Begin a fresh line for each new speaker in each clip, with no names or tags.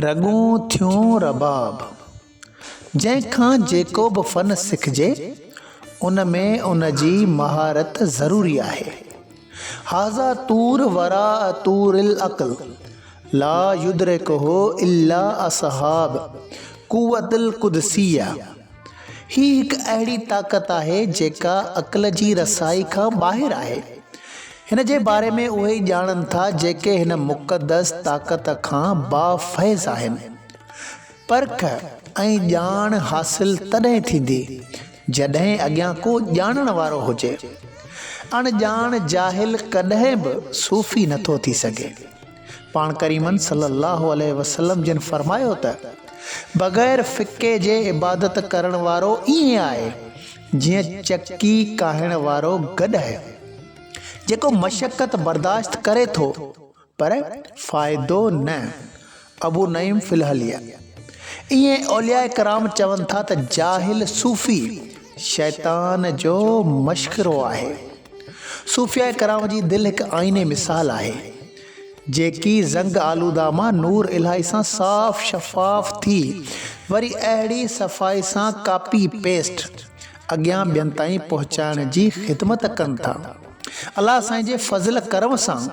رڳون ٿيون رباب، جنهن کان جيڪو به فن سکجي، ان ۾ ان جي مهارت ضروري آهي. هذا طور وراء طور العقل، لا يدرڪه الا اصحاب قوة القدسية. هي هڪ اهڙي طاقت آهي جيڪا عقل جي رسائي کان ٻاهر آهي. هن جي باري ۾ اهي ئي ڄاڻن ٿا جيڪي هن مقدس طاقت کان با فيض آهن. پرک ۽ ڄاڻ حاصل تڏهن ٿيندي جڏهن اڳيان ڪو ڄاڻڻ وارو هجي. اڻ ڄاڻ جاهل ڪڏهن به صوفي نٿو ٿي سگهي. پاڻ ڪريمن صلي الله عليه وسلم جن فرمايو ته، بغير ڦڪي جي عبادت ڪرڻ وارو ائين آهي جيئن چڪي ڪاهڻ وارو گڏهه جيڪو مشقت برداشت ڪري ٿو پر فائدو نه. ابو نعيم في الحليه. ائين اولياء ڪرام چون ٿا ته جاهل صوفي شيطان جو مشڪرو آهي. صوفياء ڪرام جي دل هڪ آئيني مثال آهي، جيڪي زنگ آلوده مان نور الاهي سان صاف شفاف ٿي وري اهڙي صفائي سان ڪاپي پيسٽ اڳيان ٻين تائين پهچائڻ جي خدمت ڪن ٿا. الله سائين جي فضل ڪرم سان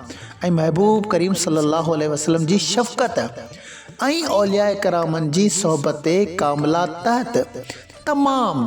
۽ محبوب ڪريم صلي الله عليه وسلم جي شفقت ۽ اولياء ڪرامن جي صحبت ڪامله تحت تمام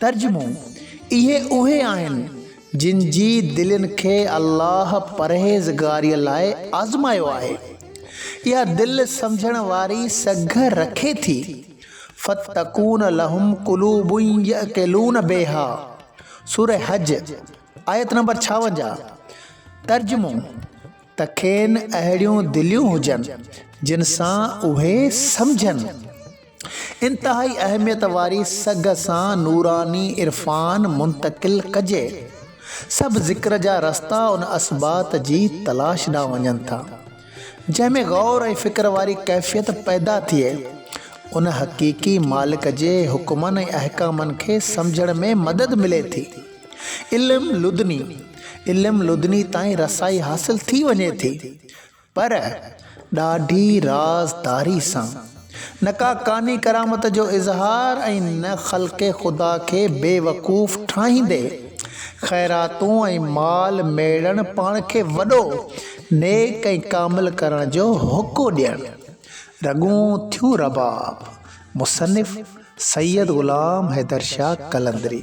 ترجمو، اهي اهي آهن جن جي دلين کي الله پرهيزگاريء لاء آزمايو آهي. اها دل سمجهڻ واري سگهه رکي ٿي. فتڪون لهم قلوب يعقلون بها، سوره حج، آيت نمبر ڇاونجاهه. ترجمو، ته کين اهڙيون دليون هجن جن سان اهي سمجهن. انتهائي اهميت واري سگهه سان نوراني عرفان منتقل ڪجي. سڀ ذڪر جا رستا ان اثبات جي تلاش ڏانهن وڃن ٿا، جنهن ۾ غور ۽ فڪر واري ڪيفيت پيدا ٿئي. ان حقيقي مالڪ جي حڪمن ۽ احڪامن کي سمجهڻ ۾ مدد ملي ٿي. علم لدني، علم لدني تائين رسائي حاصل ٿي وڃي ٿي. پر ڏاڍي رازداري سان، نه ڪا ڪاني ڪرامت جو اظهار ۽ نه خلق خدا کي بيوقوف ٺاهيندي، خيراتون ۽ مال ميڙڻ پاڻ کي وڏو، نيڪ ۽ ڪامل ڪرڻ جو هوڪو ڏيڻ رڳون ٿيون رباب، مصنف سيد غلام حيدر شاهه قلندري.